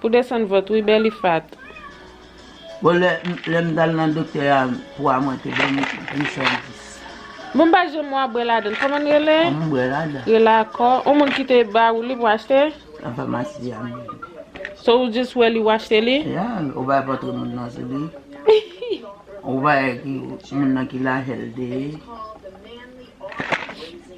Pou desann vant wi Bèlifat. Bon lè m t al nan doktè a pwa mwen te bay m 810. Bon m pa janm wa bwè ladann koman n rele? An m bwè ladan. Rele akò. On moun ki te ba ou li pou achte? Nan famasi a m jwenn li. So ou jis wè li ou achte li? Ya, ou bay pòtre moun nan sou li. Ou bay moun nan ki lajè l te ye.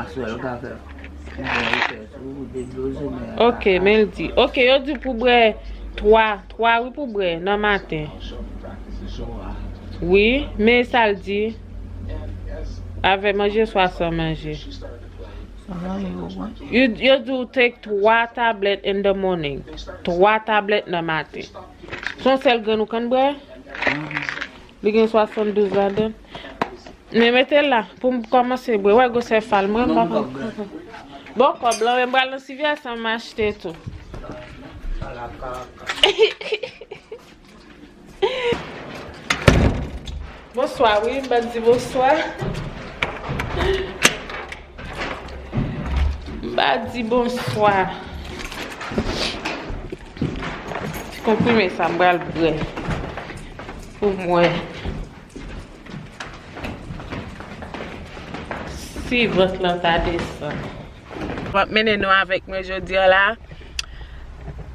Aswè yo ka fè Yon bon resèch wi pou deblozè nè a Ok men l di Ok yo di w pou bwè 3 3 wi pou bwè nan maten Wi men sa l di Avè manje swa san manje Yo di w take 3 tablèt in the morning 3 tablèt nan maten Son sèl grenn ou konn bwè? Li gen 72 ladann. Men metel la poum kòmanse bwe. Wè gwosè fal mwen m pa konprann. Bon kòb lan men m pral nan civière sa m achte tou. Bonswa wi m pat di bonswa. M pa di bonswa. Ti konprime sa m pral bre. Pou m wè. Si vant lan ta desann. M ap mennen nou avèk mwen jodi a la.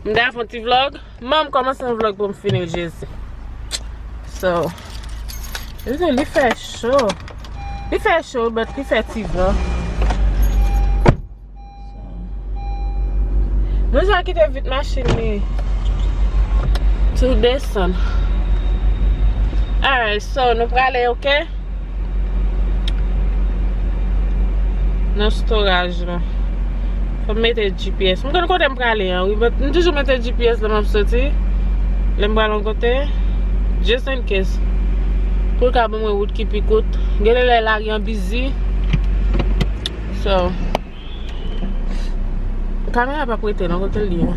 M ta fon ti vlog M'en m komanse yon vlog pou m fini l jezi So Jezi li fè cho Li fè cho but li fè ti van Mwen jwa kite vit machin li Tou desann Alright so nou prale ok Nan storaj la. Fòm mete GPS. M konn kote m prale an wi. M toujou mete GPS lè map soti. Lè m pral yon kote. Just in case. Pou l ka ban mwen wout ki pi kout. Gen de lè lari an bizi. So. Kamera pa prete non. Kote l ye.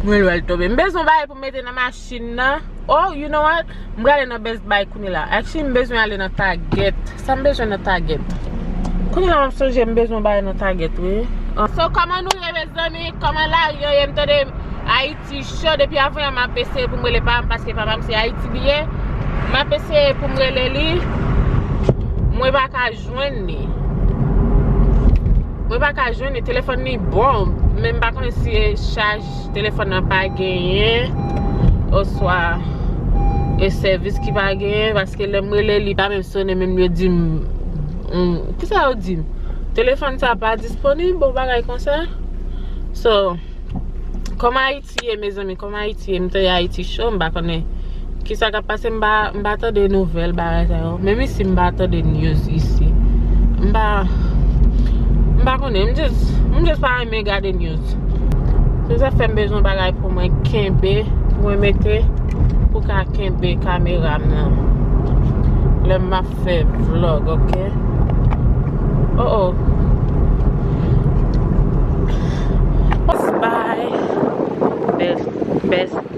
Mwen lwèl tobe. M bezwen bagay pou m mete nan machin. Machin nan Oh you know what M prale nan Best Buy kounye la Actually m bezwen ale nan Target Sa m bezwen nan Target Kounye la m ap sonje m bezwen yon bagay nan Target wi So kòman nou ye mezanmi Kòman lari an ye M tande Ayiti cho Depi avan yè m ap eseye pou m rele papa m Paske papa m se Ayiti li ye M ap eseye pou m rele li Mwen pa ka jwenn li Mwen pa ka jwenn li Telefòn li bon Men m pa konnen si e chaje. Telefòn nan pa genyen oswa gen sèvis ki pa genyen paske lè m rele li pa menm sone menm yo di m kisa yo di m telefòn sa pa disponib yon bagay konsa So kòman Ayiti ye mezanmi kòman Ayiti ye m tande Ayiti cho m pa konnen. Ki sa kap pase m pa m pa tande nouvèl bagay sa yo. Menm isi m pa tande news isi. M pa m pa konnen m just m just pa renmen gade news. Se sa k fè m bezwen bagay pou mwen kenbe pou mwen mete pou ka kenbe kamera m nan lè m ap fè vlog ok. Oh oh. Best buy best best.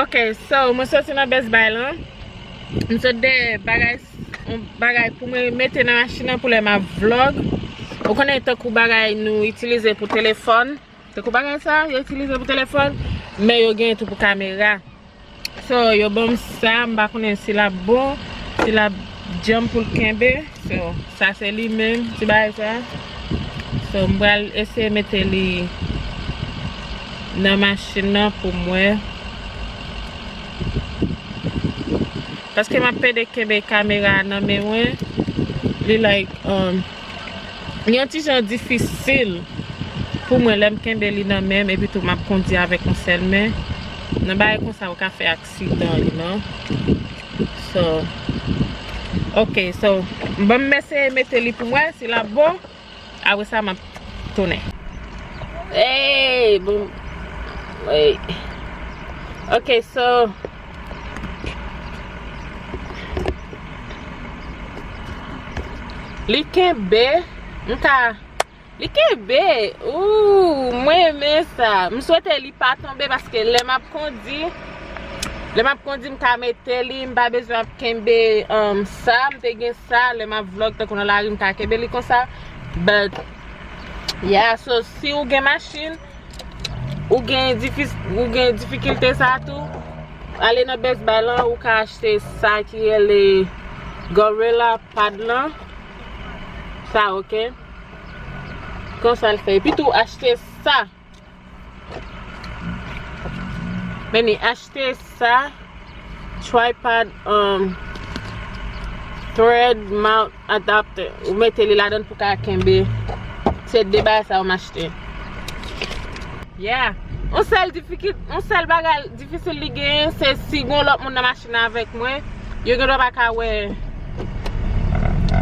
Ok so mwen soti nan best buy lan Mwen sot de bagay Yon bagay pou mwen mete nan machin nan pou lè map vlog Ou konnen tankou bagay nou itilize pou telefòn Tankou bagay sa yo itilize pou telefòn Men yo gen tou pou kamera So yo banm sa mpa konnen si lap bon Si lap djanm poul kenbe So sa se li menm ti bagay sa. So m pral eseye mete li nan machin nan pou m wè. Paske m ap pede kenbe kamera a nan men mwen. Li like um li yon ti jan difisil pou mwen lè m kenbe li nan men m epi tou m ap kondi avèk yon sèl men. Nan bagay konsa ou ka fè ak Sitan li non So Ok so Banm eseye mete li poum wè si lap bon Apre sa map tounen Eeyy bon Ok so Li kenbe Mka Li kenbe ooh mwen renmen sa. M swete li pa tonbe paske lè map kondi lè map kondi m ka mete li m pa bezwen ap kenbe sa m te gen sa lè map vlog tankou nan lari m ka kenbe li konsa but yeah so si ou gen machin ou gen ou gen difikilte sa tou ale nan best buy lan ou ka achte sa ki rele gorilla pad lan sa ok. Konsa l fè. Epi tou achte sa. Meni achte sa. Tripod um, thread mount adapter. Ou mete li ladan pou ka kenbe. Se de bagay sa ou m achte. Yeah. On sèl difikil, on sèl bagay. Difisil li genyen se si gon lòt moun nan machin nan avèk mwen, yo gendwa pa ka wè,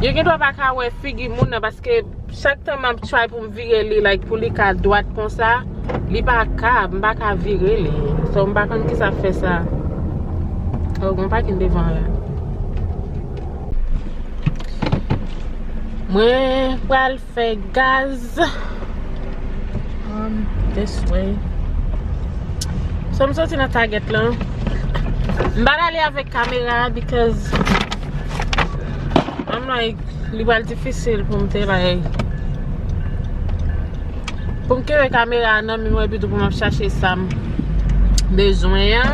yo gendwa pa ka wè figi moun nan paske chak tan map try pou m vire li like pou li ka dwat konsa, li pa ka, m pa ka vire li. So m pa konn kisa fè sa. Oh gon pakin devan la. Mwen pral. Fè gaz This way So m soti nan target lan M pa t ale avèk kamera Because I'm like Li pral difisil pou m te like Pou m kenbe kamera a nan men mwen Epi tou pou m ap chache sa m bezwen an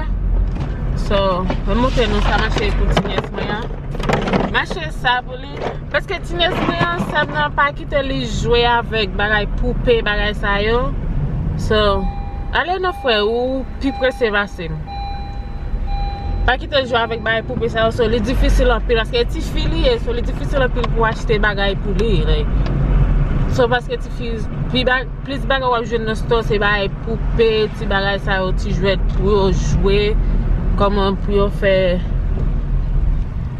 So M montre nou sa mache poutinyèz mwen an Mache sa pou li Paske tines mwen an sèm nan pa kite li jwe avèk bagay poupe bagay sa yo So ale non frè ou pi prese pasem Pa kite l jwe avèk bagay poupe sa yo So li difisil anpil paske e tifi li ye So li difisil anpil pou achte bagay pou li like So paske tifi pi ba. Plis bagay wap jwenn nan store se bagay poupe, ti bagay sa yo, ti jwèt pou yo jwe, kòman pou yo fè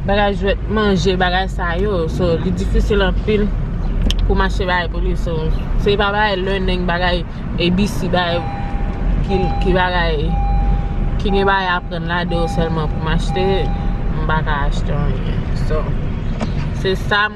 bagay jwèt manje, bagay sa yo. So li difisil anpil pou m achte bagay pou li. So se pa bagay learning, bagay ABC, bagay ki bagay ki gen bagay aprann ladan yo sèlman pou m achte, m pa ka achte anyen. So se sa.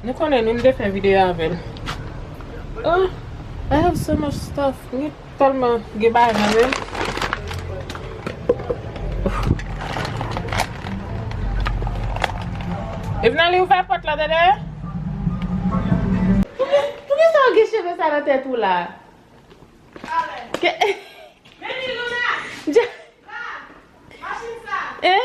Nou konnen nou m te fè video avèl oh I have so much stuff mwen tèlman gen bagay nan menm Evnali ouvè pòt la dede Poukisa ou gen cheve sa nan tèt ou la Kè Meni Luna Dja Sa Machin sa Eh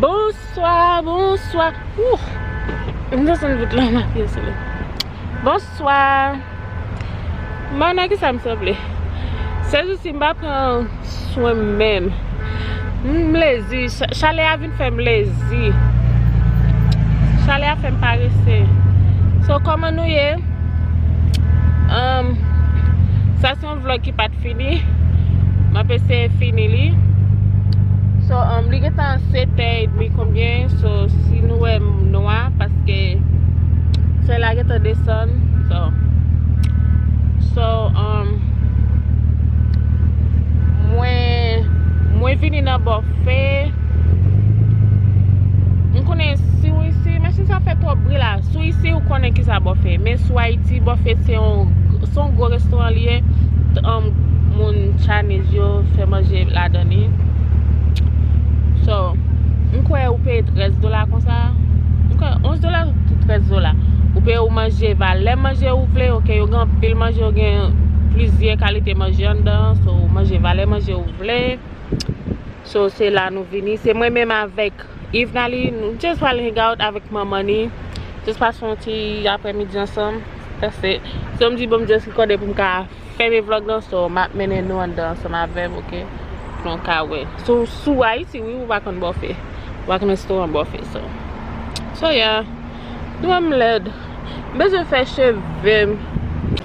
Bonswa, bonswa Bonswa Mwen nan kisa m sanble? Sezousi m pa pran swen m menm M lezi, chalè a vin Vin fèm lezi. Chalè a fèm parese. So koman nou ye? Sa se yon vlog ki pat fini. M ap eseye fini li. So li gentan 7 è edmi konbyen. So si nou wè m nwa paske solèy la gentan desann. So mwen vini nan bò. Fè M konnen si w isi Mèsi sa fè twòp bri la Si w isi ou konnen ki sa bòfè Men si w Ayiti bòfè se yon Se yon gwo restoran li ye Moun Chinese yo fè manje ladan li So M kwè ou peye 13 dola konsa M kwè 11 dola ou 13 dola Ou peye ou manje valè manje ou vle ok Yo gen anpil manje yo gen plizyè kalite manje anndan So ou manje valè manje ou vle So se la nou vini. Se mwen menm avèk Yvnaly. Nou just pral hang out avèk manman li. Just pase yon ti aprè midi ansanm. That's it. So m di bon m just rekòde pou m ka fèmen vlog lan. So m ap mennen nou anndan ansanm avè m ok. Pou nou ka wè. So si w Ayiti wi ou pa konn bòfè. Ou pa konn restoran bòfè so. So yeah. Nou wè m lèd. M bezwen fè cheve m.